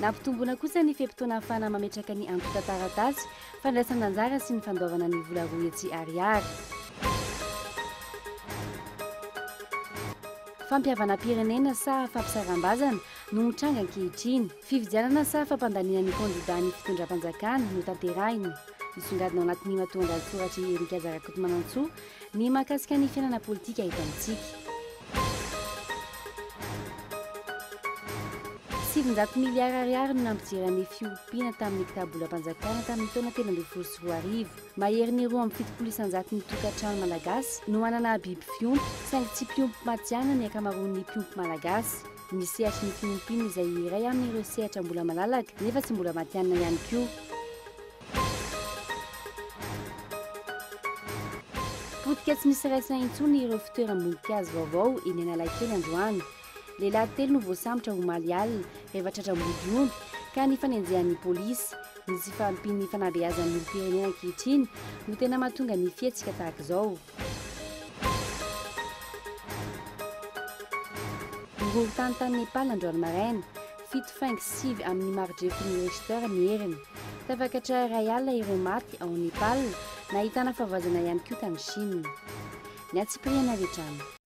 Nampitombona kosa ny fe-potoana ahafahana mametraka ny antontan-taratasy fandraisan'anjara sy ny fandoavana ny vola roa hetsy ariary. Fampihavanam-pirenena sa fampisaram-bazana no mitranga ankehitriny? Fifidianana sa fampandaniana ny kandidà ny fitondram-panjakana no tanterahina? Misongadina ao anatin'ny matoandahatsoratra i Eric Aza Rakotomanantsoa Ny mahakasika ny fiainana politika eto amintsika. Sivinjato miliara ariary no nampijery an'ny fiompiana tamin'ny kitabolam-panjakana tamin'ny taona telo ambin'ny folo sy roa arivo. Maherin'ny roa amby fitopolo isanjato ny tokantrano malagasy no manana biby fiompy, saingy tsy mpiompy matihanina ny ankamaroan'ny mpiompy malagasy. Ny sehatry ny fiompiana izay iray amin'ireo sehatra mbola malalaka nefa tsy mbola matihanina ihany koa. Potika tsy misy raisina intsony ireo fitoeram-boninkazo vaovao eny Analakely androany. Lehilahy telo no voasambotra omaly alina rehefa tratra mody omby ka nifanenjehan'ny polisy. Ny tsy fahampian'ny fanabeazan'ny olom-pirenena ankehitriny no tena mahatonga ny fihetsika tahaka izao. Horohoron-tany tany Nepal androany maraina. Fito faingo sivy amin'ny mari-drefin'ny Richter ny heriny. Tafakatra iray alina ireo maty ao Nepal. Nahitana fahavoazana ihany koa tany Chine. Ny antsipiriany avy hatrany.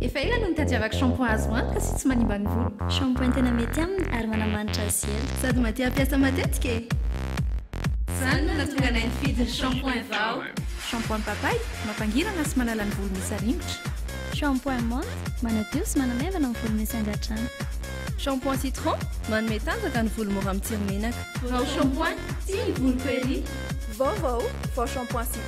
Efa ela no nitadiavako shampoing azo antoka sy tsy manimba ny voloko. Shampoing tena mety aminy ary manamanitra azy ela. Sady mahatia hampiasa matetika e! Izany no nahatonga anay nifidy ny shampoing vao. Shampoing papay, mampangirana sy manala ny volo misy aringotra. Shampoing menthe, manadio sy manamaivana ny volo misy angadrano. Shampoing citron, manome tanjaka ny volo mora mitsiry menaka. Vao shampoing, tia ny voloko ery! Vaovao, vao shampoing citron.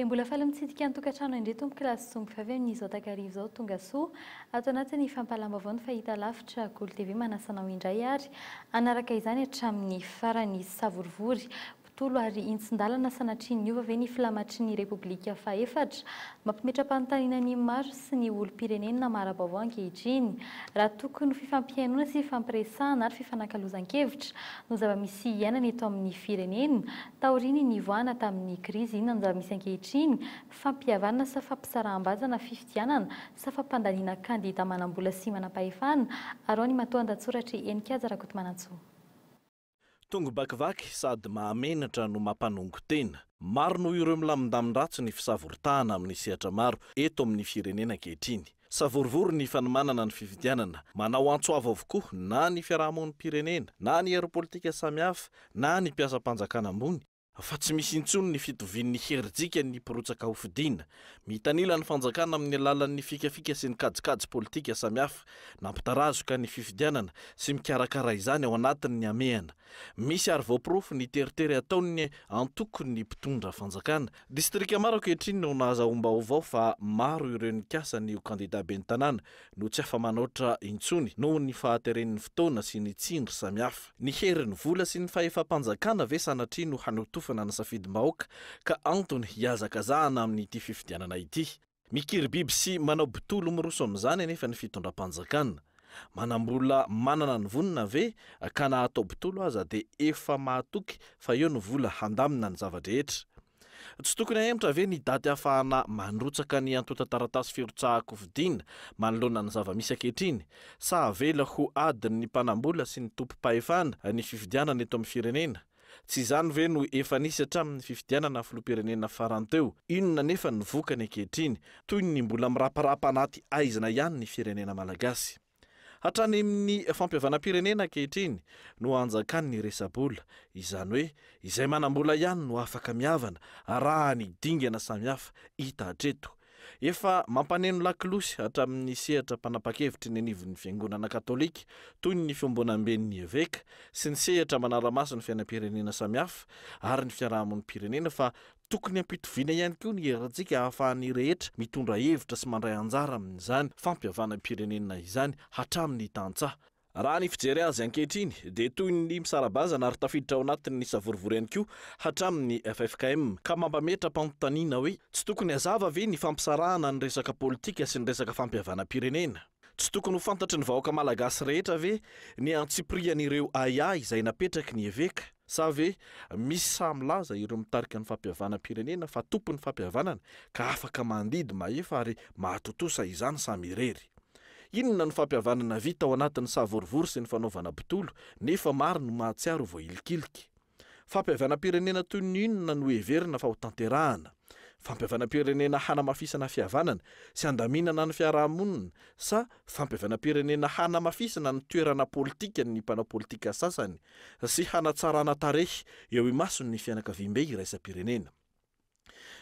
Dia mbola faly mitsidika ny tokantrano indray tompoko lahy sy zomby vavy amin'izao takariva izao Tongasoa ato anatin'ny fampahalam-baovao ny Fahitalavitra Golo TV manasa anao indray ary hanaraka izany hatramin'ny farany Savorovoro mpitolo ary hintsin-dalana Sanatria niova ve ny filamatry ny Repoblika fahefatra? Mampimetra-panontaniana ny maro sy ny olom-pirenena mara-baovao ankehitriny raha tokony ho fifampihainoana sy fifampiresahana ary fifanakalozan-kevitra no zava-misy iainana eto amin'ny firenena Taorian'ny nivoahana tamin'ny krizy inona no zava-misy ankehitriny? Fampihavanana sa fampisaraham-baza na fifidianana sa fampandaniana kandida manam-bola sy manam-pahefana? Araho ny matoandatsoratr'i Heninkaja Rakotomanantsoa. Tongo bakivaky sady mahamenatra no mampanongo tena. Maro noho ireo milamindamin-dratsy ny fisavoritahana amin'ny sehatra maro eto amin'ny firenena ankehitriny. Savorovoro ny fanomanana ny fifidianana. Manao antso avo avokoa na ny fiarahamonim-pirenena, na ny hery politika samihafa, na ny mpiasam-panjakana ambony, fa tsy misy intsony ny fitovian'ny herijika ny mpirotsaka hofidiana. Mitanila ny fanjakana amin'ny alalan'ny fikafika sy ny kajikajy politika samihafa. Nampitarazoka ny fifidianana sy mikarakara izany ao anatiny ny hamehana. Misy ary voaporofo ny teritery ataon'ny antoko ny mpitondra fanjakana Distrika maro ankehitriny no nahazahoam-baovao fa maro ireo nikasa ny ho kandidà ben'ny tanàna no tsy afa-manoatra intsony noho ny fahateren'ny fotoana sy ny tsindry samihafa. Ny herin'ny vola sy ny fahefam-panjakana ve sanatria no hanotofana ny safidim-bahoaka ka antony hihazakazahana amin'ity fifidianana ity? Mikiribiby sy manao bitolo miroso amin'izany anefa ny fitondram-panjakana. Manam-bola manana ny vonona ve ka na atao bitolo aza dia efa mahatoky fa eo ny vola handamina ny zava-drehetra? Tsy tokony hahemotra ve ny daty hahafahana mandrotsaka ny antontan-taratasy firotsahan-kofidina manoloana ny zava-misy ankehitriny? Sa avela ho adin'ny mpanam-bola sy ny tompom-pahefana ny fifidianana eto amin'ny firenena? Tsy izany ve no efa nisy hatramin'ny fifidianana filoham-pirenena farany teo? Inona anefa ny vokany ankehitriny? Toy ny mbola miraparapa anaty haizina ihany ny firenena malagasy. Hatrany amin'ny fampihavanam-pirenena ankehitriny no hanjakan'ny resa-bola. Izany hoe izay manam-bola ihany no afaka mihavana, arahany dingana samihafa hita hatreto. Efa mampaneno lakolosy hatramin'ny sehatra mpanapa-kevitry ny anivon'ny Fiangonana Katolika, toy ny fiombonamben'ny eveka, sy ny sehatra manara-maso ny fiainam-pirenena samihafa ary ny fiarahamonim-pirenena fa tokony hampitoviana ihany koa ny herintsika ahafahan'ny rehetra mitondra hevitra sy mandray anjara amin'izany fampihavanam-pirenena izany hatramin'ny tantsaha Raha ny fijery azy ankehitriny dia toy ny misara-bazana ary tafiditra ao anatin'ny savorovoro ihany koa hatramin' ny ffkm, ka mampametra-panontaniana hoe tsy tokony hazava ve ny fampisarahana ny resaka politika sy ny resaka fampihavanam-pirenena? Tsy tokony ho fantatry ny vahoaka malagasy rehetra ve ny antsipirihan'ireo ahiahy izay napetraky ny eveka? Sa ve misy sahy milaza ireo mitarika ny fampihavanam-pirenena fa tompon'ny fampihavanana ka afaka mandidy mahefa ary mahatontosa izany samy irery? Inona no fampihavanana vita ao anatin'ny savorovoro sy ny fanaovana botolo nefa maro no mahatsiaro ho voailikiliky? Fampihavanam-pirenena toy ny inona no heverina fa ho tanterahana? Fampihavanam-pirenena hanamafisana fihavanana sy handaminana ny fiaraha-monina sa Fampihavanam-pirenena hanamafisana ny toerana politikan' ny mpanao politika sasany sy hanatsarana tarehy eo imason' ny fianakaviambe iraisam-pirenena.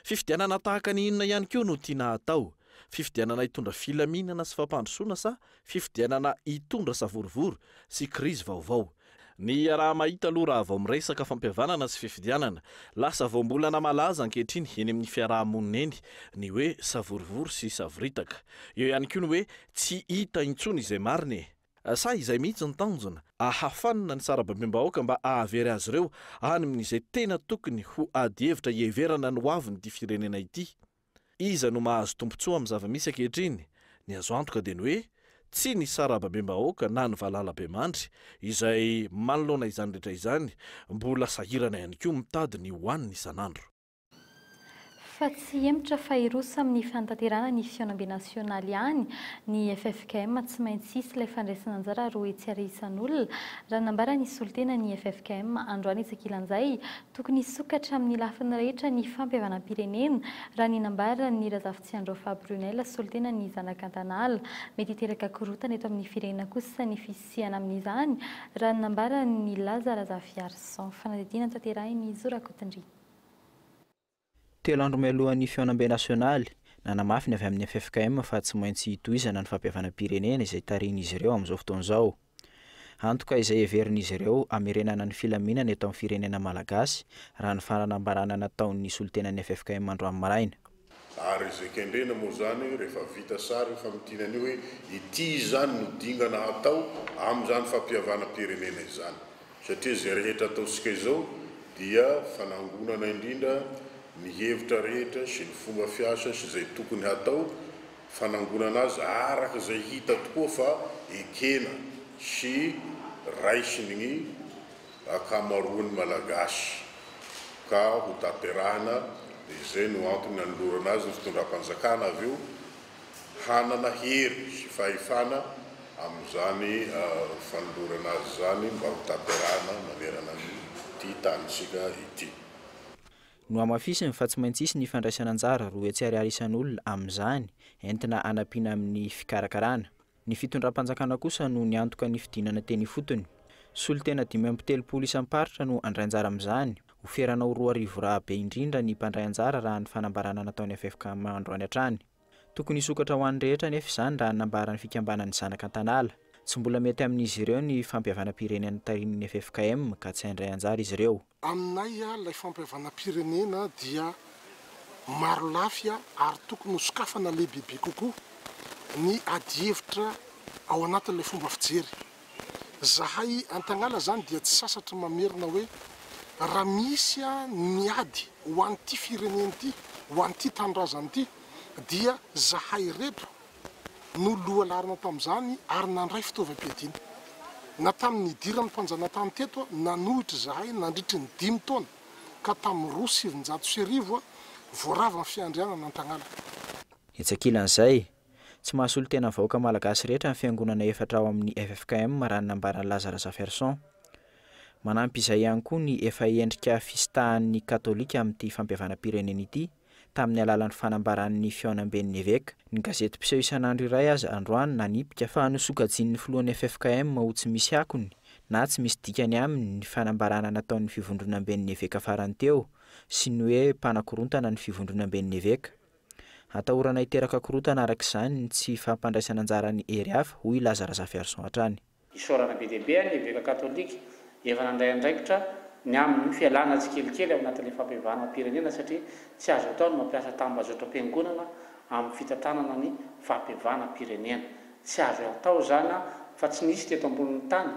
Fifidianana tahaka ny inona ihany koa no tiana hatao, fifidianana hitondra filaminana sy fampandrosoana sa fifidianana hitondra savorovoro sy krizy vaovao? Ny iaraha-mahita aloha raha vao miresaka fampihavanana sy fifidianana. Lasa voambolana malaza ankehitriny eny amin'ny fiaraha-monina eny ny hoe savorovoro sy savoritaka. Eo ihany koa ny hoe tsy hita intsony izay marina e! Sa izay mihitsy no tanjona? Ahafanina ny sarababem-bahoaka mba ahavery azy ireo any amin'izay tena tokony ho ady hevitra hiheverana ny hoavin'ity firenena ity. Iza no mahazo tombontsoa amin'ny zava-misy ankehitriny? Ny azo antoka dia ny hoe tsy ny sarababem-bahoaka na ny valalabemandry, izay manoloana izany rehetra izany, mbola sahirana ihany koa mitady ny hohaniny isan'andro. Fa tsy hemotra fa hiroso amin'ny fanatanterahana ny fihaonambe nasionaly ihany ny ffkm, tsy maintsy hisy ilay fandraisan'anjara roa etsy ary isan'olona, raha nambara nisolo tena ny ffkm androany etsy ankilan'izay, Tokony hisokatra amin'ny lafiny rehetra ny fampihavanam-pirenena, raha ny nambaran'i Razafitsiandrao Faha Brunelle, solontenan'ny Zanakantanala. Mety hiteraka korontana eto amin'ny firenena kosa ny fisiana amin'izany, raha ny nambaran'i Laza Razafiarison. Fanadihadiana notaterahin'i Zo Rakotondriana. Telo andro mialohan'ny fihaonambe nasionaly, nanamafy ny avy amin'ny ffkm fa tsy maintsy hitohizana ny fampihavanam-pirenena izay tarihin'izy ireo amin'izao fotoana izao. Antoka izay heverin'izy ireo hamerenana ny filaminana eto amin'ny firenena malagasy, raha ny fanambarana nataon'ny solontenan'ny ffkm androany maraina. Ary izay kendrena moa izany rehefa vita sary io famintinana io hoe ity izany no dingana hatao amin'izany fampihavanam-pirenena izany. Satria izay rehetra ataontsika izao dia fanangonana indrindra ny hevitra rehetra sy ny fomba fiasa sy izay tokony hatao, fanangonana azy araka izay hita tokoa fa ekena sy raisin' ny ankamaroan' ny Malagasy ka hotanterahina dia izay no antony nanolorana azy ny fitondram-panjakana avy eo hanana hery sy fahefana amin'izany fanolorana azy izany mba ho tanterahana manerana an'ity tanintsika ity. Nohamafisiny fa tsy maintsy hisy ny fandraisana anjara roa hetsy ariary isan'olona amin'izany, entina hanampiana amin'ny fikarakarana. Ny fitondram-panjakana kosa no niantoka ny fidinana teny ifotony. Solontena dimy amby telopolo isam-paritra no handray anjara amin'izany. Ho ferana ho roa arivo raha be indrindra ny mpandray anjara raha ny fanambarana nataon'ny ffkm androany hatrany. Tokony hisokatra ho an'ny rehetra anefa izany raha ny nambaran'ny fikambanan'ny zanaka Antanala. Tsy mbola mety amin'izy ireo ny fampihavanam-pirenena tarihin'ny ffkm ka tsy handray anjara izy ireo. Aminay ilay fampihavanam-pirenena dia marolafy ary tokony ho sokafana lehibebe kokoa ny adihevitra ao anatin'ilay fomba fijery. Zahay Antagnala izany dia tsy sasatry mamerina hoe raha misy ny ady ho an'ity firenena ity, ho an'ity tanindrazana ity dia zahay ireto no lohalarana tamin'izany ary nandray fitaovam-piadiana. Na tamin'ny nidiran'ny mpanjanatany teto aho, nanohitra izahay nandritry ny dimy taona, ka tamin'ny roa sy sivinjato sy arivo aho vao rava ny fiandrianana an-tagnàna. Etsy ankilan'izay, tsy mahasolontenan'ny vahoaka malagasy rehetra ny fiangonana efatra ao amin'ny ffkm raha ny nambaran'i Laza Razafiarison. Manampy izay ihany koa ny efa endrika fisitahan'ny katolika amin'ity fampihavanam-pirenena ity, tamin'ny alalan'ny fanambaran'ny fihaonamben'ny eveka. Ny gazety mpiseho isan'andro iray aza androany nanipika fa nosokajian'ny filohan'ny ffkm ho tsy misy akony na tsy misy dikany aminy ny fanambarana nataon'ny fivondronamben'ny eveka farany teo sy ny hoe mpanakorontana ny fivondronamben'ny eveka. Atahorana hiteraka korontana araka izany ny tsy fampandraisan'anjaran'ny hery hafa, hoy i Laza Razafiarison hatrany. Isaorana be dia be ny Eveka Katolika efa nandray andraikitra ny amin'ny fialana tsikelikely ao anatin'ilay fampihavanam-pirenena satria tsy azo atao ny mampiasa tambazotram-piangonana amin'ny fitantanana ny fampihavanam-pirenena. Tsy azo atao izany fa tsy nisy teto ambonin'ny tany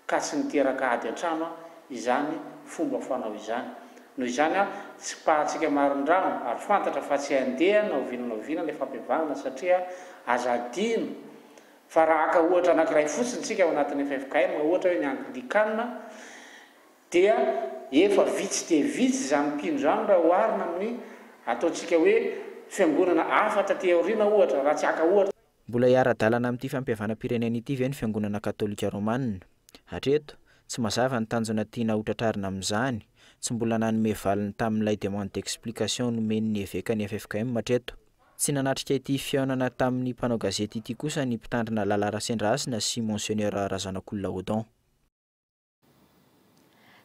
ka tsy niteraka ady an-trano izany fomba fanao izany. Noho izany tsipahantsika marindrano ary fantatra fa tsy handeha na oviana na oviana ilay fampihavanana satria aza adino Fa raha haka ohatra anankiray fotsiny isika ao anatin'ny ffkm, ohatra hoe ny Anglikana, dia efa vitsy dia vitsy izany mpino izany raha oharina amin'ny ataontsika hoe fiangonana hafa taty aoriana ohatra, raha tsy haka ohatra. Mbola hiara-dalana amin'ity fampihavanam-pirenena ity ve ny Fiangonana Katolika Romanina? Hatreto, tsy mazava ny tanjona tiana hotratrarina amin'izany, tsy mbola nanome valiny tamin'ilay demande d'explication nomeny ny eveka ny ffkm hatreto. Tsy nanatrika ity fihaonana tamin'ny mpanao gazety ity kosa ny mpitandrina Lala Rasendrahasina sy Monsieneur Razanakolona Odon.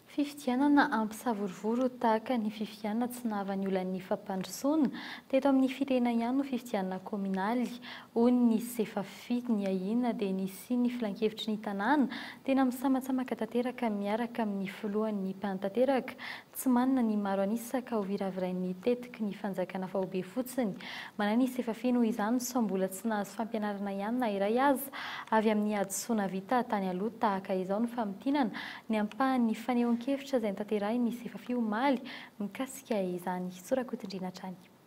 Fifidianana ampisavorovoro tahaka ny fifidianana tsy nahavan'ny olan'ny fampandrosoana, teto amin'ny firenena ihany no fifidianana kaominaly, hoy ny Sefafi. Ny ahiana dia ny hisian'ny filankevitry ny tanàna tena misamatsamaka tanteraka miaraka amin'ny filohan'ny mpanatanteraka, Tsy manana ny maro an'isa ka hoviravirain'ny tetiky ny fanjakana fa ho be fotsiny. Manan'isa efa feno izany sao mbola tsy nahazo fampianarana ihany na iray aza avy amin'ny hadisoana vita tany aloha tahaka izao ny famintinana ny ampahan'ny fanehoan-kevitra izay notanterahin'ny Sefafi omaly mikasika izany. Sorakoto-ndriana hatrany.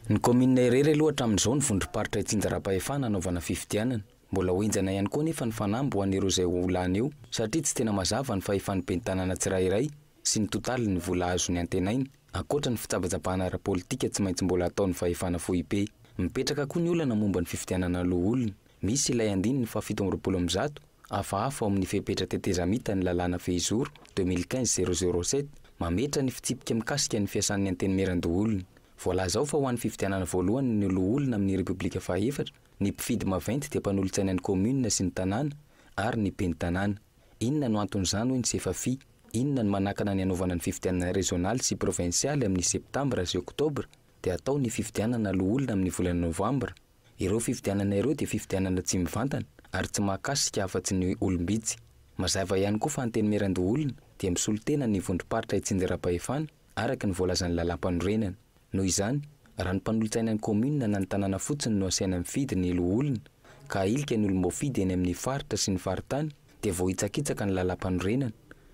Ny kaominina irery aloha hatramin'izao ny vondrom-paritra itsinjaram-pahefana hanaovana fifidianana. Mbola ho henjana ihany koa anefa ny fanamby ho an'ireo izay ho lany eo satria tsy tena mazava ny fahefan'ny ben'ny tanàna tsirairay sy ny totalin'ny vola azony antenaina ankoatra ny fitsabatsabahana ara-politika tsy maintsy mbola ataon'ny fahefana foibe. Mipetraka koa ny olana momba ny fifidianana loholona. Misy ilay andininy fahafito amby roapolo amin'ny zato. Hafahafa ao amin'ny fepetra tetezamita ny lalàna Fehizoro, deux mille quinze zéro zéro sept, mametra ny fitsipika mikasika ny fiasan'ny Antenimierandoholona. Voalaza ao fa ho an'ny fifidianana voalohany ny loholona amin'ny Repoblika fahaefatra, ny mpifidy maventy dia mpanolotsainan'ny kaominina sy ny tanàna ary ny ben'ny tanàna. Inona no anton'izany hoy ny Sefafi? Inona no manakana ny hanaovana ny fifidianana rezionaly sy provinsialy amin'ny Septambra sy Oktobra dia atao ny fifidianana loholona amin'ny volana Novambra? Ireo fifidianana ireo dia fifidianana tsy mivantana ary tsy mahakasika afa-tsy ny olom-bitsy. Mazava ihany koa fa Antenimierandoholona dia misolo tena ny vondrom-paritra itsinjaram-pahefana araka ny voalazan'ny lalàmpanorenana. Noho izany, raha ny mpanolotsaina ny kaominina na ny tanàna fotsiny no asaina mifidy ny loholona ka ahilika ny olom-boafidy eny amin'ny faritra sy ny faritany dia voahitsakitsaka ny lalàmpanorenana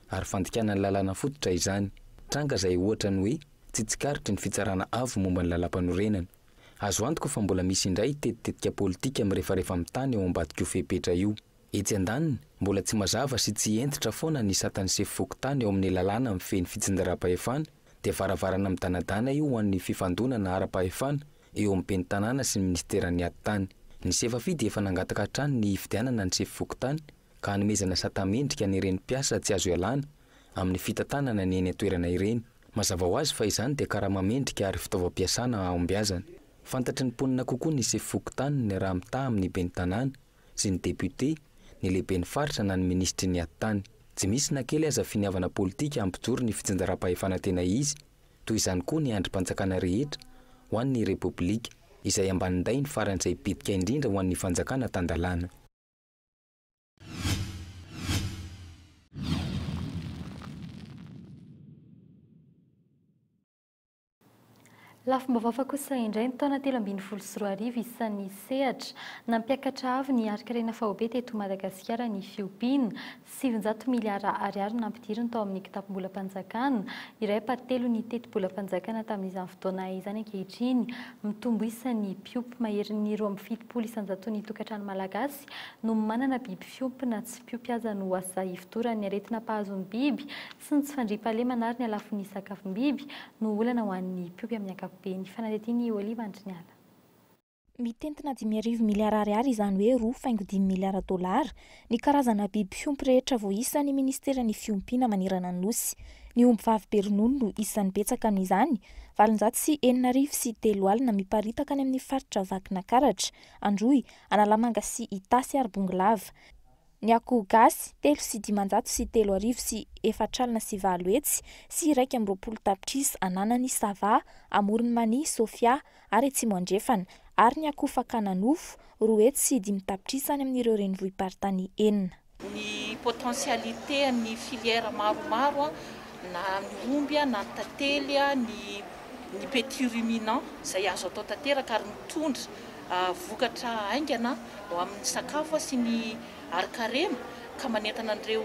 ary fandikana ny lalàna fototra izany. Tranga izay ohatra ny hoe tsy tsikaritry ny Fitsarana Avo momba ny lalàmpanorenana. Azo antoka fa mbola misy indray tetitetika politika mirefarefa amin'ny tany ao ambadik'io fepetra io. Etsy andaniny, mbola tsy mazava sy tsy hentitra foana ny satan'ny sefo fokontany ao amin'ny lalàna mifehy ny fitsinjaram-pahefana, dia varavarana midanadana io ho an'ny fifandonana ara-pahefana eo amin'ny ben'ny tanàna sy ny minisiteran'ny atitany. Ny Sefafi dia efa nangataka hatrany ny hifidianana ny sefo fokontany ka hanomezana sata-mendrika an'ireny mpiasa tsy azo ialana amin'ny fitantanana ny eny an-toerana ireny. Mazava ho azy fa izany dia karama mendrika ary fitaovam-piasana hahombiazana. Fantatry ny mponina kokoa ny sefo fokontaniny raha mitaha amin'ny ben'ny tanàna sy ny depiote, ny lehiben'ny faritra na ny minisitry ny atitany. Tsy misy na kely aza finiavana politika hampijoro ny fitsinjaram-pahefana tena izy. Toy izany koa ny andrim-panjakana rehetra ho an'ny Repoblika, izay ambanin-dainy faran'izay bitika indrindra ho an'ny fanjakana tan-dalàna. Lafim-baovao fa kosa indray ny taona telo ambin'ny folo sy roa arivo isan'ny sehatra nampiakatra avo ny harin-karena faobe teto Madagasikara ny fiompiana. Sivinjato miliara ariary no nampidiriny tao amin'ny kitapom-bolam-panjakana, iray par telo ny tetibolam-panjakana tamin'izany fotoana izany. Ankehitriny, mitombo isa ny mpiompy maherin'ny roa amby fitopolo isan-jaton'ny tokantrano malagasy. Malagasy no manana biby fiompy na tsy mpiompy aza no asa hifodoran'ny aretina mpahazo ny biby sy ny tsy fandriampahalemana ary ny halafon'ny sakafom-biby no olana ho an'ny mpiompy amin'ny ankapobeny, fanadihadian'i Olive Andriniala. Mitentina dimy arivo miliara ariary izany hoe roa faingo dimy miliara dolara, ny karazana biby fiompy rehetra voaisan'ny minisiteran'ny fiompiana manerana ny Nosy. Ny ombivavy be ronono no isan'ny betsaka noho izany, valonjato sy enina arivo sy telo alina miparitaka any amin'ny faritra Vakinakaratra, Androy, Analamanga sy Itasy ary Bongolava. Ny akoho gasy, telo sy dimanjato sy telo arivo sy efatra alina sy valo hetsy sy iraika amby roapolo tapitrisa ananan'i Sava, Amoron'i Mania, Sofia ary Atsimo Andrefana, ary ny akoho fakana nofo, roa hetsy sy dimy tapitrisa any amin'ireo renivohi-paritany enina. ny potentialité an'ny filière maromaro na ny omby na ny tantely ny ny petit ruminant izay azo atao tanteraka ary mitondra vokatra haingana ho amin'ny sakafo sy ny harinkarena ka manentana an'ireo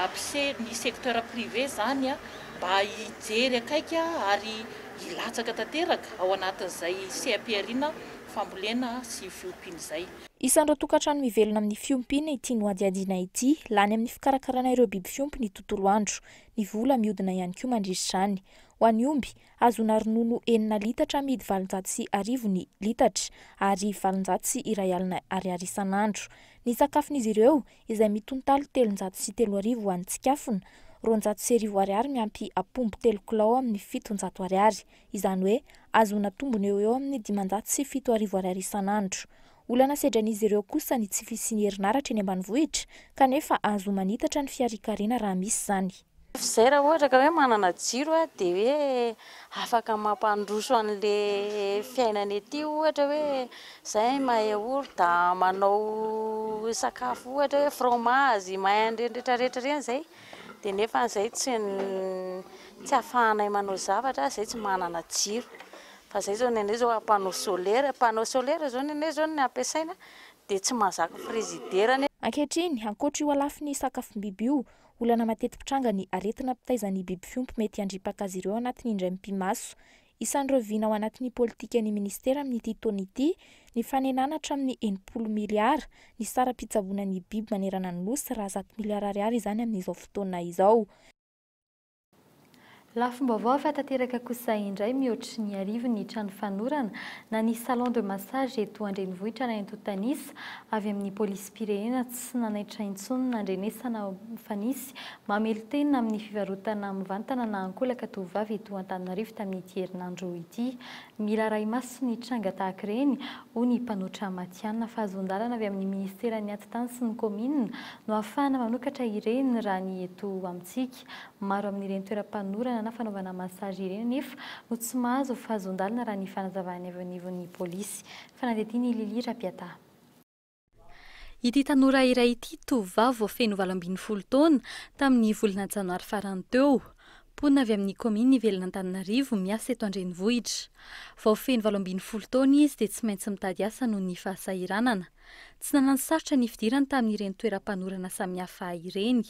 mpisehatra ny secteur privé izany mba hijery akaiky ary hilatsaka tanteraka ao anatin'izay seha-pihariana fambolena sy fiompiana izay. Isan'ireo tokantrano mivelona amin'ny fiompiana ity nohadihadiana ity. Lany amin'ny fikarakarana ireo biby fiompy ny tontolo andro. Ny vola mihodina ihany koa mandritra izany. Ho an'ny omby, ahazoana ronono enina litatra amidy valonjato sy arivo ny litatra, ary valonjato sy iray alina ariary isan'andro. Ny sakafon'izy ireo, izay mitontaly telonjato sy telo arivo any Tsikafona, roanjato sy arivo ariary miampy apombo telo kilao amin'ny fitonjato ariary. izany hoe ahazoana tombony eo ho eo amin'ny dimanjato sy fito arivo ariary isan'andro. Olana sedran'izy ireo kosa ny tsy fisian'ny herinaratra eny ambanivohitra, kanefa ahazoa manitatra ny fiarikarena raha misy izany. Izay raha ohatra ka hoe manana jiro dia hoe afaka mampandroso an'ilay fiainana ety ohatra hoe izay mahay orda manao sakafo ohatra hoe fromazy, mahay an'ireny rehetra rehetra ireny izay. dia nefa izay tsy tsy afahanay manao zavatra izay tsy manana jiro fa izay izao ny anay izao panneau solaire panneau solaire izao ny anay izao ny ampiasaina dia tsy mahazaka frizidera ny Ankehitriny, ankoatra io halafin'ny sakafom-biby io, olana mateti-pitranga ny aretina mpitaiza ny biby fiompy mety handripaka azy ireo anatin'ny indray mipi-maso. Isan'ireo vina ao anatin'ny politikan'ny minisitera amin'ity taona ity ny fanenana hatramin'ny enimpolo miliara ny saram-pitsaboana ny biby manerana ny Nosy raha zato miliara ariary izany amin'izao fotoana izao. Lafim-baovao efa tanteraka kosa indray mihoatry ny arivo ny trano fanorana na ny salon de massage eto an-drenivohitra na eto Tanisa avy amin'ny Police firenena tsy nanaitra intsony nandrenesana fa nisy mamelon-tena amin'ny fivarotana mivantana na ankolaka tovovavy eto Antananarivo tamin'ity herinandro ity. Miraharaha maso ny tranga tahaka ireny, hoy ny mpanotra matihanina fa azon-dalana avy amin'ny minisiteran'ny Atitany sy ny kaominina no ahafahana manokatra ireny raha ny eto amintsika. Maro amin'ireny toeram-panorana na fanaovana massage ireny anefa no tsy mahazo fahazon-dalana raha ny fanazavan'ny avy anivon'ny polisy. Fanadihadian'i Lily Rapiataha. Ity tanora iray ity, tovovavy vao feno valo ambin'ny folo taona, tamin'ny volana janoary farany teo. Mponina avy amin'ny kaominina Ivelan'Antananarivo, miasa eto an-drenivohitra. Vao feno valo ambin'ny folo taona izy dia tsy maintsy mitady asa noho ny fahasahiranana. Tsy nanano sarotra ny fidirany tamin'ireny toeram-panorana samihafa ireny.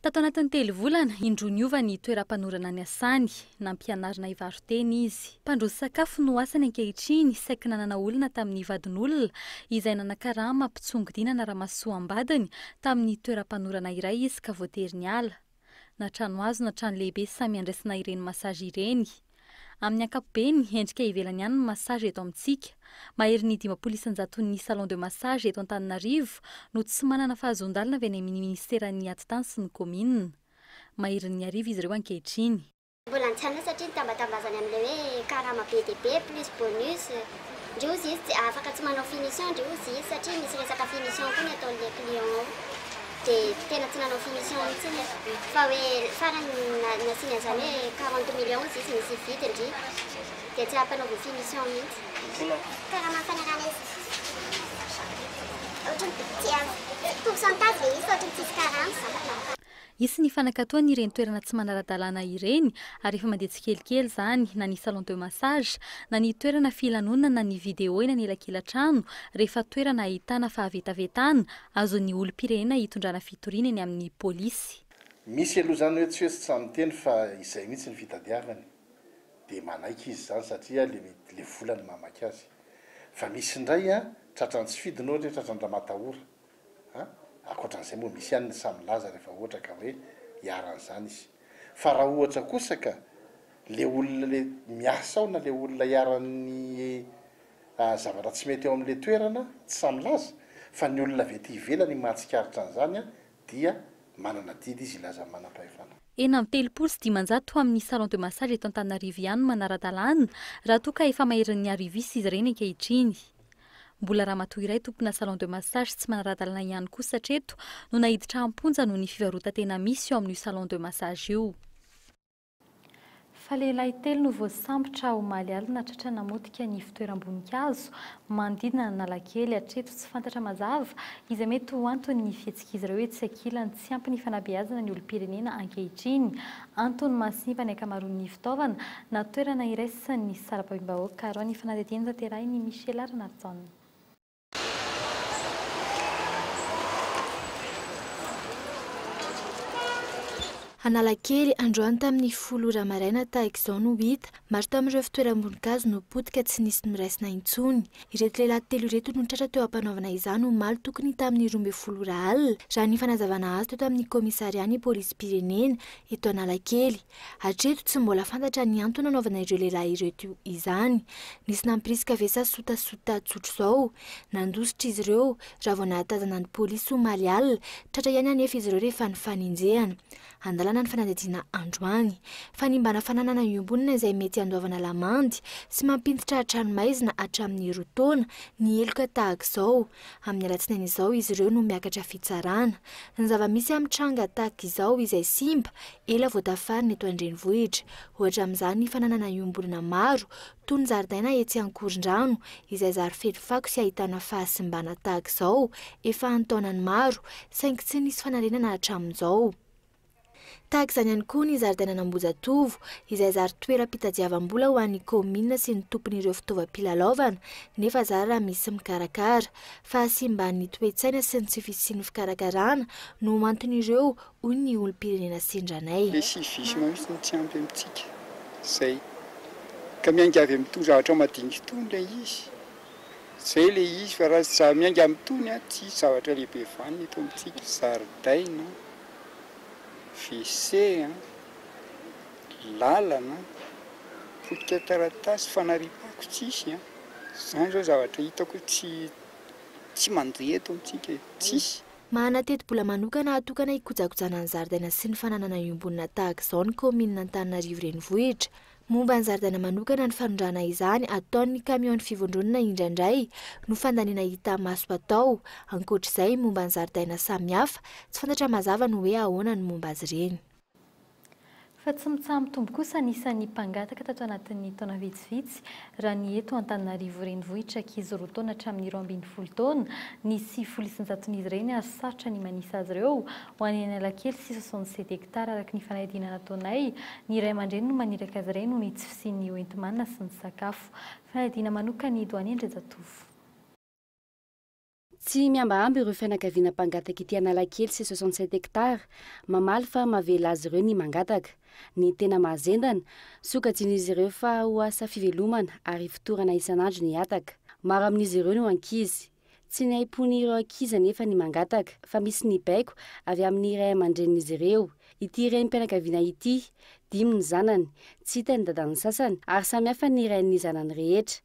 Tato anatin'ny telo volana, indroa niova ny toeram-panorana niasany. Nampianarina hivaro-tena izy. Mpandroso sakafo no asany ankehitriny, saiky nanana olona tamin'ny vadin'olona izay nanakarama mpitsongodinana ramasoa am-badiny tamin'ny toeram-panorana iray izy ka voatery niala. Na trano hazo na trano lehibe samy andraisana ireny massage ireny. Amin'ny ankapobeny, endrika ivelany ihany ny massage eto amintsika. Maherin'ny dimampolo isan-jato ny salon de massage eto Antananarivo no tsy manana fahazoan-dalana avy any amin'ny Ministeran'ny Atitany sy ny Kaominina. Maherin'ny arivo izy ireo ankehitriny. Mbola an-tsaina satria ny tambatambazany amin'ilay hoe karama be dia be plus bonus. Ndry ozy izy tsy afaka tsy manao finition ndry ozy izy satria misy resaka finition koa ny ataon'ilay client ao dia tena tsy nanao finition mihitsy izy fa hoe farany nasiany an'izany hoe quarante millions ozy izy misy hividy ndry dia tsy ampanaoviny finition mihitsy. Karama ampanarahana izy ohatran'ny tsy pourcentage ve izy fa ohatran'ny tsisy karama. Hisy ny fanakatoan' ireny toerana tsy manara-dalàna ireny ary efa mandeha tsikelikely izany na ny salon de massage, na ny toerana filanonana na ny video eny anelakelan-trano rehefa toerana ahitana fahavetavetana, azon'ny olom-pirenena itondrana fitoriana eny amin'ny polisy. Misy aloha izany hoe tsy hoe tsy sahy miteny fa izay mihitsy ny fitadiavany dia manaiky izy izany satria le mety le vola no mahamaika azy. Fa misy indray an, tratran'ny tsy fidiny ohatra hoe tratran-dRamatahora. a! Ankoatra an'izay moa misy ihany ny sahy milaza rehefa ohatra ka hoe iharan'izany izy. Fa raha ohatra kosa ka le olona le miasa ao na le olona iharan'ny a zavatra tsy mety ao amin'le toerana tsy sahy milaza fa ny olona avy aty ivelany ny mahatsikaritra an'izany a dia manana didy izy hilaza amin'ny manam-pahefana. Enina amby telopolo sy dimanjato ho amin'ny salon de massage eto Antananarivo ihany no manara-dalàna raha toa ka efa maherin'ny arivis izy ireny ankehitriny. Mbola ramatoa iray tompona salon de massage tsy manara-dalana ihany kosa hatreto no naiditra am-ponja noho ny fivarotan-tena misy eo amin'io salon de massage io. Fa lehilahy telo no voasambotra omaly alina tratra namotika ny fitoeram-boninkazo manodidina an'Analakely hatreto tsy fantatra mazava izay mety ho anton'ny fihetsik'izy ireo etsy ankilany tsy ampy ny fanabeazana ny olom-pirenena ankehitriny Antony mahasimba ny ankamaroan'ny fitaovana na toerana iraisan'ny misy sarababem-bahoaka arao ny fanadihadiana tanterahin' i Michela Ranarison. Analakely, androany tamin'ny folo ora maraina tahaka izao no hita Maro tamin'ireo fitoeram-boninkazo no potika tsy nisy noraisina intsony. Ireto lehilahy telo ireto no tratra teo am-panaovana izany omaly tokony tamin'ny roa ambin'ny folo ora alina, raha ny fanazavana azo teto amin'ny kaomisarian'ny polisim-pirenena eto Analakely. Hatreto, tsy mbola fantatra ny antony nanaovana ireo lehilahy ireto izany. Nisy nampirisika ve sa sotasota tsotra izao? Nandositra izy ireo, raha vao nahatazana ny polisy omaly alina. Tratra ihany anefa izy ireo rehefa nifanenjehana. Andalana ny fanadihadiana androany. Fanimbana fananana iombonana izay mety handoavana lamandy sy mampiditra an-tranomaizina hatramin'ny roa taona ny heloka tahaka izao. Amin'ny alatsinainy izao izy ireo no miakatra fitsarana. Ny zava-misy amin'ny tranga tahaka izao izay simba, ela vao tafarina eto an-drenivohitra. Ohatra amin'izany fananana iombonana maro Toy ny zaridaina etsy Ankorondrano, izay zary feno fako sy ahitana fahasimbana tahaka izao efa an-taonany maro, saingy tsy nisy fanarenana hatramin'izao. Tahaka izany ihany koa ny zaridainan'Ambohijatovo, izay zary toeram-pitadiavam-bola ho an'ny kaominina sy ny tompon'ireo fitaovam-pilalaovana, nefa zary raha misy mikarakara. Fahasimban'ny toe-tsaina sy ny tsy fisian'ny fikarakarana no anton'ireo hoy ny olom-pirenena sendra anay. Ilay civisme mihitsy no tsy ampy amintsika. Izay. Ka miainga avy amin'itony zavatra madinika itony ilay izy. Izay ilay izy fa raha tsy miainga amin'itony, tsisy zavatra lehibe vanona eto amintsika. Zaridaina, WC, lalana, potika taratasy, fanariam-pako tsisy. Izany izao zavatra hitako hoe tsy mandeha eto amintsika e. Tsisy. Manana tetibola manokana atokana hikojakojana ny zaridaina sy ny fananana iombonana tahaka izao ny kaominina Antananarivo Renivohitra. Momba ny zaridaina manokana ny fanondrahana izany ataon'ny kamiaon'ny fivondronana indraindray no fandaniana hita maso atao. Ankoatra izay, momba ny zaridaina samihafa, tsy fantatra mazava ny hoe ahoana ny momba azy ireny. Fa tsy mitsaha-mitombo kosa ny isan'ny mpangataka tato anatin'ny taona vitsivitsy, raha ny eto Antananarivo Renivohitra ankizy roa taona hatramin'ny roa ambin'ny folo taona ny sivifolo isan-jaton'izy ireny ary sarotra ny manisa azy ireo ho any Analakely sy soixante sept hectares araka ny fanadihadiana nataonay ny ray aman-dreny no maniraka azy ireny noho ny tsy fisian'ny hoenti-manana sy ny sakafo fanadihadiana manokan'ny Doyen Andriajatovo Tsy mihambahamba ireo fianakaviana mpangataka ity Analakely sy soixante sept hectares, mamaly fa mahavela azy ireo ny mangataka. Ny tena mahazendana, sokajian'izy ireo fa ho asa fivelomana ary ifotorana isan'andro ny hataka. Maro amin'izy ireo no ankizy. Tsy ny aim-pon'ireo ankizy anefa ny mangataka, fa misy ny baiko avy amin'ny ray aman-drenin'izy ireo. Ity renim-pianakaviana ity, dimy ny zanany, tsy hita ny dadan'ny sasany ary samihafa ny rain'ny zanany rehetra.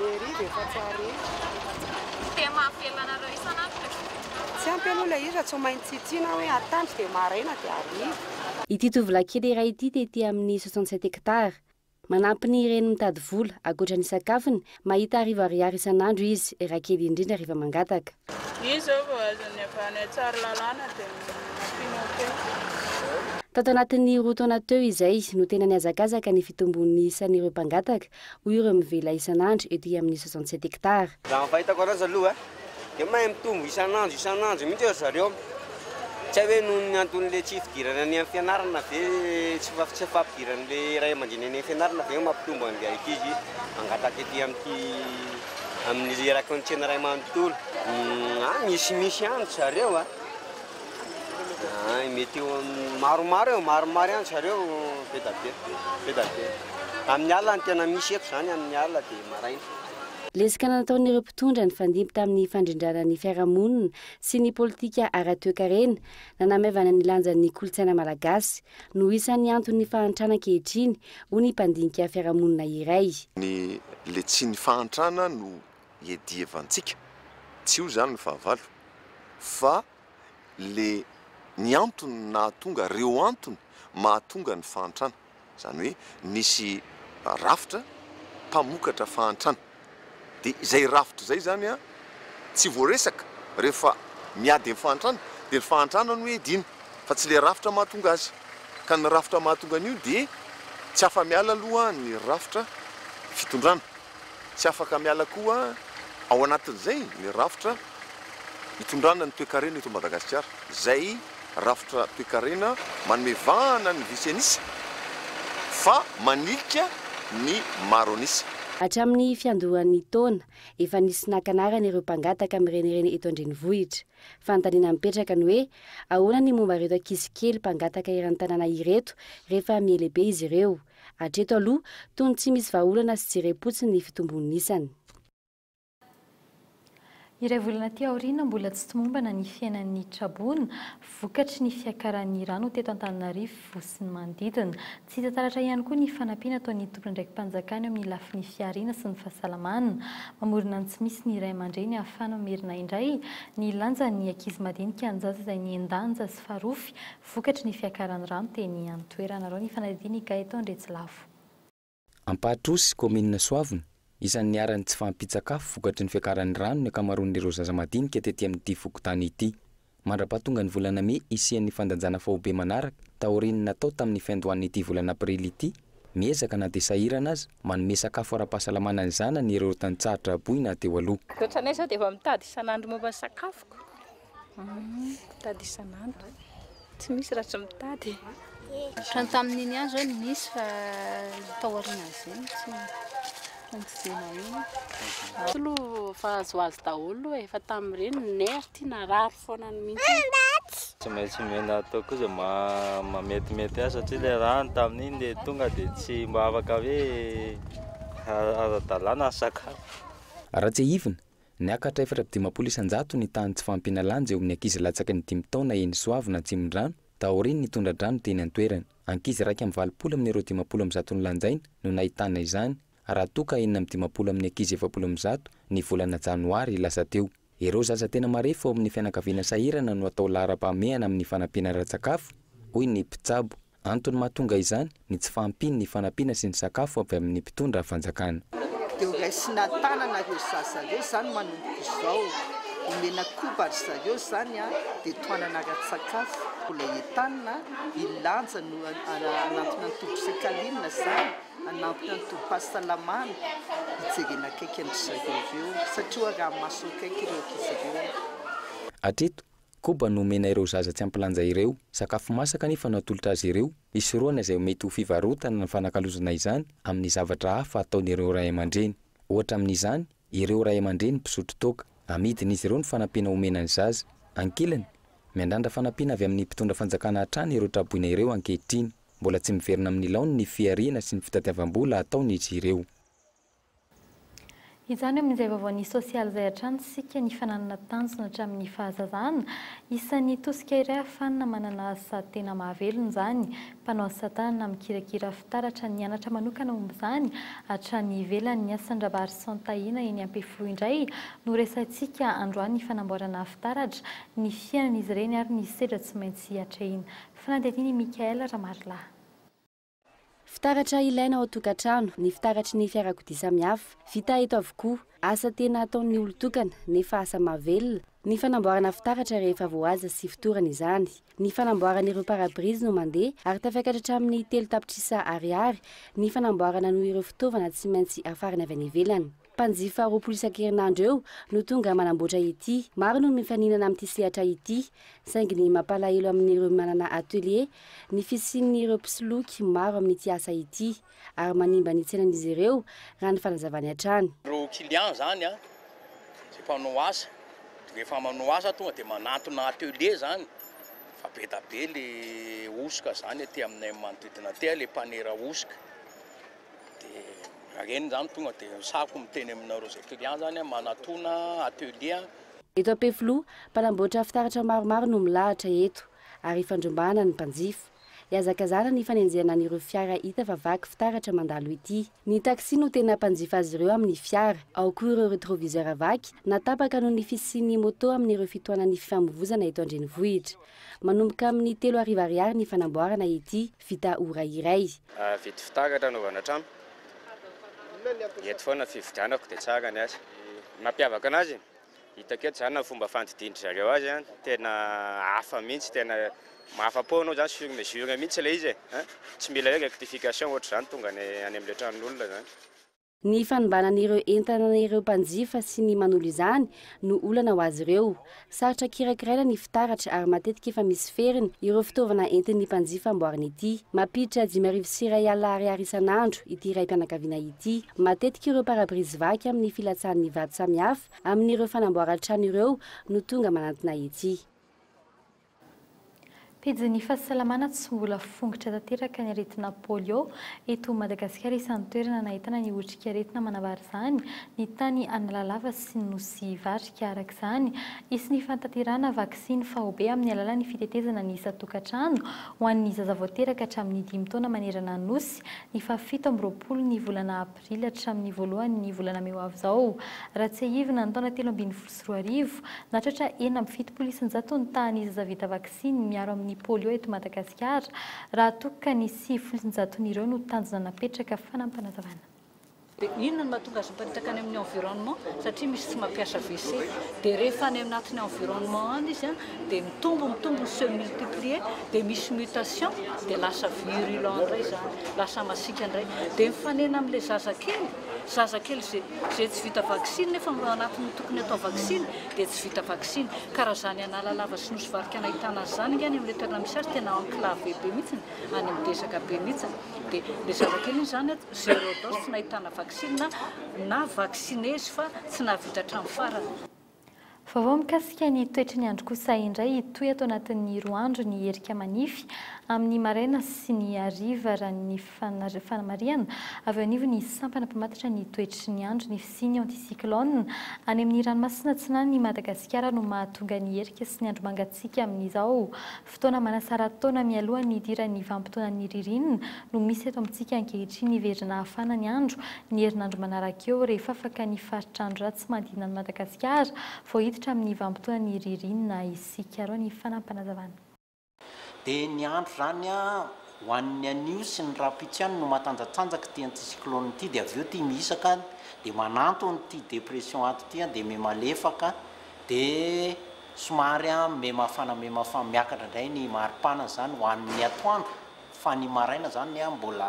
Mairie ve fa tsy hare. Tsy dia mahavela anareo isan'andro ilay vokatra. Tsy ampy aloha ilay izy raha tsy maintsy tsitsiana hoe atandro dia maraina dia hariva. Ity tovolahy kely iray ity dia ety amin'ny soixante sept hectares. Manampy ny reny mitady vola, ankoatra ny sakafony, mahita arivo ariary isan'andro izy, raha kely indrindra rehefa mangataka. Izy izao vao azony avy any Tsaralalàna dia nampiana kely. Tato anatin'ny roa taona teo izay no tena nihazakazaka ny fitombon'ny isan'ireo mpangataka hoy ireo mivela isan'andro ety amin'ny soixante sept hectares. Raha ny fahitako anazy aloha dia mahay mitombo isan'andro isan'andro mihitsy ry zareo. Tsy hay hoe noho ny anton'ilay tsy fidirana any amin'ny fianarana ve, tsy fahampidiran'ilay ray aman-dreny any amin'ny fianarana ve no mampitombo an'ilay ankizy mangataka ety amin'ity, amin'ny raka ny tsena iray manontolo. Misy misy ihany ry zareo a! Mety eo amin'ny maromaro eo, maromaro ihany zareo be da be, be da be. Amin'ny alina no tena misy eto izany, amin'ny alina dia maraina. Lezika nataon'ireo mpitondra nifandimby tamin'ny fandrindrana ny fiarahamonina sy ny politika ara-toekarena nanamaivana ny lanjan'ny kolontsaina malagasy no isan'ny anton'ny fahantrana ankehitriny, hoy ny mpandinika fiarahamonina iray. Ny letsin'ny fahantrana no iadiavantsika, tsy io izany ny fahavalo fa le ny antony nahatonga, reo antony mahatonga ny fahantrana, izany hoe nisy rafitra mpamokatra fahantrana, dia izay rafitra izay izany an tsy voaresaka rehefa miady amin'ny fahantrana, dia ny fahantrana no iadiana fa tsy le rafitra mahatonga azy, ka ny rafitra mahatonga an'io dia tsy afa-miala aloha ny rafitra fitondrana. Tsy afaka miala koa ao anatin'izay ny rafitra itondrana ny toekarena eto Madagasikara, izay rafitra toekarena manome vahana ny vitsy an'isa fa manilika ny maro an'isa. Hatramin'ny fiandohan'ny taona, efa nisy naka anarana ireo mpangataka mirenireny eto an-drenivohitra. Fanontaniana mipetraka ny hoe, ahoana ny momba ireto ankizy kely mpangataka eran-tanàna ireto rehefa miele-be izy ireo? Hatreto aloha, tony tsy misy vahaolana sy jerem-potsiny ny fitombon'ny isany. Iray volana aty aoriana, mbola tsy tomombana ny fiainan'ny Traboina, vokatry ny fiakaran'ny rano teto Antananarivo sy ny manodidina. Tsy hita taratra ihany koa ny fanampiana ataon'ny tompon'andraiki-panjakana eo amin'ny lafiny fihariana sy ny fahasalamana. Mamorona ny tsy misy ny ray aman-dreny ahafahana mamerina indray ny lanjan'ny ankizy madinika an-jaza izay nihen-danja sy farofy Vokatry ny fiakaran'ny rano teny an-toerana. Araho ny fanadihadian' i Gaëtan Andriatsilavo. Ampahatrosy, kaominina Soavina. Isan'ny niharan'ny tsy fahampian-tsakafo vokatry ny fiakaran'ny rano ny ankamaroan'ireo zaza madinika tety amin'ity fokontany ity. Mandra-pahatongan'ny volana mey hisian'ny fandanjana faobe manaraka taorian'ny natao tamin'ny fiandohan'ity volana aprily ity, miezaka na dia sahirana aza manome sakafo ara-pahasalamana ny zanany ireo tantsaha traboina teo aloha. Ny ohatranay izao dia efa mitady isan'andro momba ny sakafoko. Mitady isan'andro. Tsy misy raha tsy mitady. Ohatrany tamin'iny ihany izao ny nisy fa tao aorianan'izay no tsy nandidiana iny. Tsy aloha fa azoazo daholo e, fa tamin'ireny ny nerf ity narary foana ny mihitsy. Tsy maintsy omena atao koa izay mahametimety azy satria ilay rano tamin'iny dia tonga dia tsy mba afaka hoe ara-dalàna ny sakafo. Raha tsiahivina, Niakatra efatra amby dimampolo isan-jato ny tahan'ny tsy fahampiana lanja eo amin'ny ankizy latsaky ny dimy taona eny Soavina Atsimondrano, taorian'ny tondra-drano teny an-toerana. Ankizy iraika amby valopolo amin'ireo dimampolo amby zato nolanjaina no nahitana izany, raha toa ka enina amby dimampolo amin'ny ankizy efapolo amby zato ny volana janoary lasa teo. Ireo zaza tena marefo ao amin'ny fianakaviana sahirana no atao laharam-pahamehana amin'ny fanampiana ara-tsakafo, hoy ny mpitsabo. Antony mahatonga izany ny tsy fahampian' ny fanampiana sy ny sakafo avy amin' ny mpitondra fanjakana. Dia ho raisina tanana ireo zaza ireo izany manomboka izao. Omena koba ry zareo izany an, dia tohanana ara-tsakafo. Mbola entanina iny lanja no hanampina ny tobim-psiakalinina izany, hanampina ny tobim-pahasalamana, hijerena akaiky an-dry zareo ireo, satria hoarahamaso akaiky ireo ankizy ireo. Hatreto, Koba no omena ireo zaza tsy ampy lanja ireo. Sakafo masaka anefa no atolotra azy ireo, hisorohana izay mety ho fivarotana na fanakalozana izany amin'ny zavatra hafa ataon'ireo ray aman-dreny. Ohatra amin'izany, ireo ray aman-dreny mpisotro toaka. Amidin'izy ireo ny fanampiana omena ny zaza. Ankilany, miandrandra fanampiana avy amin'ny mpitondra fanjakana hatrany ireo traboina ireo ankehitriny. Mbola tsy miverina amin'ny laoniny ny fihariana sy ny fitadiavam-bola ataon'izy ireo. Izany amin'izay vaovaon'ny sosialy izay hatrany isika nifananana tanjona hatramin'ny fahazazana. Isan'ny tosika iray ahafanina manana asa tena mahavelona izany. Mpanao asa tanana mikirakira fitaratra nianatra manokana momba izany hatrany ivelany. Ny asan-dRabarison Tahina eny Ampefiloha indray no resahintsika androany, ny fanamboarana fitaratra, ny fiainan'izy ireny ary ny sedra tsy maintsy atrehina. Fanadihadiana i Michaël Ramarilahy. Fitaratra ilaina ao an-tokantrano, ny fitaratry ny fiarakodia samihafa. Vita eto avokoa. Asa tena ataon'ny olon-tokana, nefa asa mahavelona, ny fanamboarana fitaratra rehefa voahaja sy fotorana izany. Ny fanamboarana ireo pare-brise no mandeha ary tafiakatra hatramin'ny telo tapitrisa ariary ny fanamboarana noho ireo fitaovana tsy maintsy hafarana avy any ivelany. Mpanjifa roapolo isan-kerinandro eo no tonga manamboatra ity. Maro no mifaninana amin'ity sehatra ity, saingy ny mampalahelo amin'ireo manana atelier ny fisian'ireo mpisoloky maro amin'ity asa ity, ary manimba ny tsenan'izy ireo, raha ny fanazavany hatrany. Ireo clients izany an, izay mpanao asa, dia rehefa manao asa tonga dia manantona atelier izany, fa be da be ilay hosoka izany aty aminay manodidina aty, ilay mpanera hosoka. Dia reny zany tonga dia misako miteny aminareo zay client zany a manatona atelier. Eto Ampefiloha, mpanamboatra fitaratra maromaro no milahatra eto ary ifandrombahana ny mpanjifa. Ihazakazahana ny fanenjehana an'ireo fiara hita fa vaky fitaratra mandalo ity. Ny taxi no tena mpanjifa azy ireo amin'ny fiara. Ao koa ireo retroviseur vaky na tapaka noho ny fisian'ny moto amin'ireo fitohanan'ny fifamoivozana eto an-drenivohitra. Manomboka amin'ny telo arivo ariary ny fanamboarana ity. vita ora iray. Vity fitaratra anaovana trano. Eto foana fividianako dia tsara ny azy. Ny mampiavaka anazy, hitako eto izany ny fomba fandidian-dry zareo azy, tena hafa mihitsy, tena mahafa-po anao izany, sur mesure mihitsy ilay izy e! Tsy mila hoe rectification ohatr'izany tonga any amin'ilay tranon'olona izany. Ny fanombanan'ireo entana ireo mpanjifa sy ny manolo izany no olana ho azy ireo. Sarotra kirakiraina ny fitaratra ary matetika efa misy feriny ireo fitaovana entin'ny mpanjifa amboariny ity. Mampiditra dimy arivo sy iray alina ariary isan'andro ity raim-pianakaviana ity. Matetika ireo pare-brise vaky amin'ny filatsahan'ny vato samihafa amin'ireo fanamboaran-trano ireo no tonga manantona etsy. Pejin'ny fahasalamana Tsy mbola fongitra tanteraka ny aretina polio eto Madagasikara Isan'ny toerana nahitana ny otrikaretina manambara izany ny tany Analalava sy ny Nosy Varika Araka izany hisy ny fantanterahana vaksiny faobe amin'ny alalan'ny fitetezana ny isan-tokantrano ho an'ny zaza vao teraka hatramin'ny dimy taona manerana ny Nosy ny fahafito amby roapolo ny volana Aprily hatramin'ny voalohan'ny volana mey ho avy izao. Raha tsiahivina, ny taona telo ambin'ny folo sy roa arivo, nahatratra enina amby fitopolo isan-jato ny tahan'ny zaza vita vaksiny miaro amin'ny polio eto Madagasikara, raha toa ka ny sivifolo isan-jaton'ireo no tanjona napetraka, fanampinazavana. Dia inona no mahatonga azy miparitaka any amin'ny environnement? Satria misy tsy mampiasa WC. Dia rehefa any anatin'ny environnement any izy, dia mitombo mitombo se multiplier dia misy mutation dia lasa virulent indray izany lasa masiaka indray dia mifanena amin'ilay zazakely zazakely izay izay tsy vita vaksiny nefa anatin'ny tokony atao vaksiny dia tsy vita vaksiny ka raha izany analalava sy nosy varika nahitana azy izany angany amin'ilay toerana misy azy tena enclave be mihitsiny any amin'ny desaka be mihitsiny dia ilay zazakely izany zero dose tsy nahitana vaksiny na na vaksine izy fa tsy nahavita hatramin'ny farany Vaovao mikasika ny toetry ny andro kosa indray hitohy ato anatin'ny roa andro ny erika manify amin'ny maraina sy ny hariva raha ny fanamarihana avy eo anivon'ny sampana mpamantatra ny toetry ny andro ny fisian'ny anticyclone any amin'ny ranomasina atsinan'ny Madagasikara no mahatonga ny erika sy ny andro mangatsiaka amin'izao Fotoana manasara taona mialoha ny hidiran'ny vanim-potoanan'ny ririnina no misy eto amintsika ankehitriny hiverina hafana ny andro ny herinandro manaraka eo rehefa afaka ny faritr'andro ratsy manodidina an'i Madagasikara vao hiditra amin'ny vanim-potoanan'ny ririnina isika. Arao ny fanampanazavan'i. Dia ny andro izany ho an'ny anio sy ny rahampitso ihany no matanjatanjaka ity anticyclone ity dia avy eo ity mihisaka dia manantona ity dépression ato ity dia miha malefaka dia Somary an mimafana mimafana miakatra indray ny maripana zany ho an ny atoandro fa ny maraina zany an mbola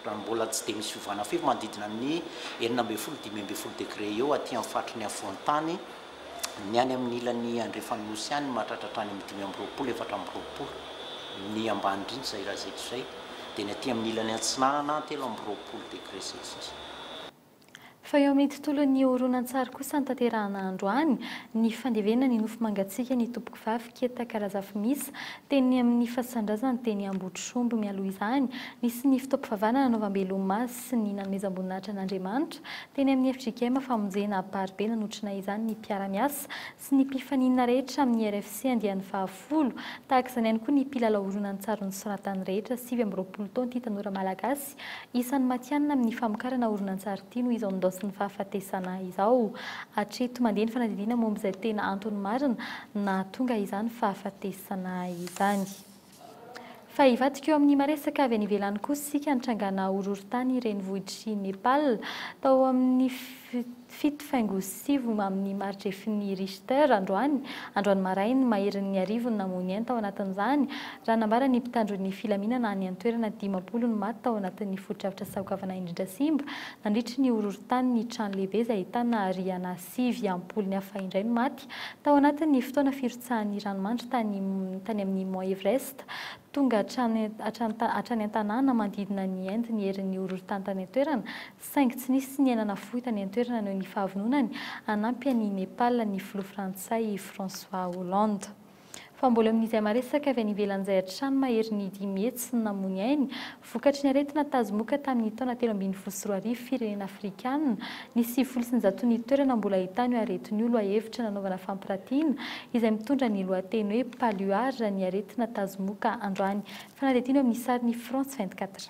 raha ny mbola tsy dia misy fiovana firy manodidina ny enina ambin'ny folo dimy ambin'ny folo degré eo aty amin'ny faritry ny afovoan-tany ny any amin'ny ilany andrefan'ny nosy any mahatratra hatrany amin'ny dimy amby roapolo efatra amby roapolo ny ambany indrindra izay raha izay toa izay dia ny aty amin'ny ilany atsinanana telo amby roapolo degré celsius. Fa eo amin'ny tontolon'ny horonantsary kosa notanterahana androany ny fandevenana ny nofo mangatsiaka ny Tompokivavy Ketaka Razafimisa teny amin'ny fasan-drazany teny Ambohitromby. Mialoha izany, nisy ny fotoam-pivavahana nanaovambe lomazy sy ny nanomezam-boninahitra an'Andriamanitra teny amin'ny fjkm famonjena Amparibe. Nanotrona izany ny mpiara-miasa sy ny mpifaninana rehetra amin'ny RFC andiany fahafolo, tahaka izany ihany koa ny mpilalao horonantsary nosoratany rehetra, sivy amby roapolo taona ity tanora malagasy isan'ny matihanina amin'ny famokarana horonantsary ity noho izao ndaosin'ny fahafatesana izao. Hatreto mandeha ny fanadihadiana momba izay tena antony marina nahatonga izany fahafatesana izany. Fa hivadika eo amin'ny maresaka avy any ivelany kosa isika, nitrangana horohorontany renivohitr'i Nepal tao amin'ny fito faingo sivy amin'ny maridrefin'ny Richter androany, androany marainy, maherin'ny arivo ny namoy ny ainy tao anatin'izany, raha nambara ny mpitandro ny filaminana any an-toerana dimampolo ny maty tao anatin'ny fotodrafitr'asa goavana indrindra simba nandritry ny horohorontany ny trano lehibe izay ahitana rihana sivy ampolony hafa indray no maty tao anatin'ny fotoana firotsahan'ny ranomandry tany tany amin'ny Mont Everest. Tonga hatrany hatrany hatrany an-tanàna manodidina an'i Inde ny herin'ny horohorontany tany an-toerana, saingy tsy nisy niaina nafoy tany an-toerana noho ny fahavononany hanampy an'i Nepal ny filoha frantsay François Hollande. Fa mbola noho izay maresaka avy any ivelany izay hatrany mahery ny dimy hetsy namoy ainy vokatry ny aretina tazomoka tamin' ny taona telo ambin'ny folo sy roa arivo firenena afrikana ny sivifolo sy ny zato ny toerana mbola ahitana io aretina io lohahevitra nanaovana fampiratiana izay mitondra ny lohateny hoe Paluard ny aretina tazomoka androany fanadihadiana eo amin' ny sarin' i France vingt-quatre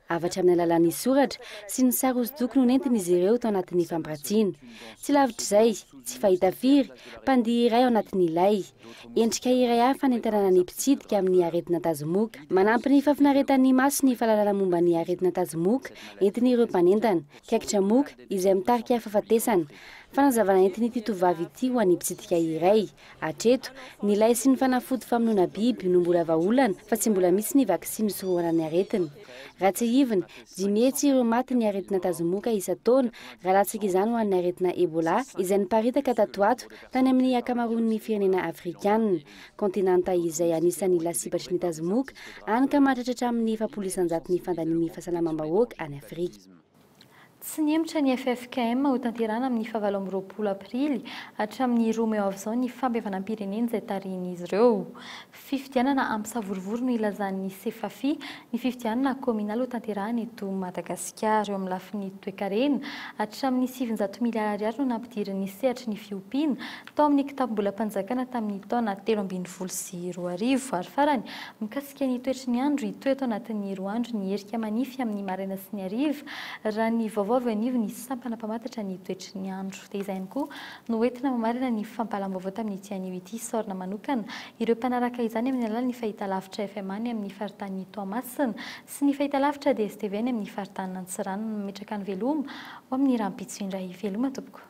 Avatra amin'ny alalan'ny soratra sy ny sary hosodoko no nentin'izy ireo tao anatin'ny fampirantiana. Tsy lavitr'izay, tsy fahita firy, mpandihy iray ao anatin'ilay. Endrika iray hafa hanentanana ny mpitsidika amin'ny aretina tazomoka. Manampy ny fahafinaretan'ny maso ny fahalalana momba ny aretina tazomoka entin'ireo mpanentana, kaikitra moka izay mitarika fahafatesana. Fanazavana entin'ity tovovavy ity ho an'ny mpitsidika iray. Hatreto, ny lay sy ny fanafody famonoana biby no mbola vahaolana fa tsy mbola misy ny vaksiny hisorohana ny aretina. Raha tsiahivina, dimy hetsy ireo maty ny aretina tazomoka isan-taona raha latsaka izany ho an'ny aretina Ebola izay niparitaka tato ato tany amin'ny ankamaroan'ny firenena afrikana, kontinanta izay anisan'ny lasibatry ny tazomoka any ka mahatratra hatramin'ny efapolo isan-jato ny fandanian'ny fahasalamam-bahoaka any Afrika. Tsy nihemotra ny ffkm ho tanterahana amin'ny fahavalo amby roapolo aprily hatramin'ny roa mey ho avy izao ny fampihavanam-pirenena izay tarihin'izy ireo. Fifidianana hampisavorovoro no ilazan'ny Sefafi ny fifidianana kaominaly ho tanterahana eto Madagasikara. Eo amin'ny lafiny toekarena, hatramin'ny sivinjato miliara ariary no nampidirin'ny sehatry ny fiompiana tao amin'ny kitapom-bolam-panjakana tamin'ny taona telo ambin'ny folo sy roa arivo ary farany mikasika Mikasika ny toetry ny andro, hitohy eto anatin'ny roa andro ny erika manify amin'ny maraina sy ny hariva, raha ny vaovao avy eo anivon'ny sampana mpamantatra ny toetry ny andro. Dia izay ihany koa no hoentina mamarana ny fampahalam-baovao tamin'ity anio ity. Isaorana manokana ireo mpanaraka izany amin'ny alalan'ny fahitalavitra FMA any amin'ny faritanin'i Toamasina sy ny fahitalavitra DSTV any amin'ny faritanin'Antsiranana. Mametraka ny veloma ho amin'ny rahampitso indray. Veloma tompoko.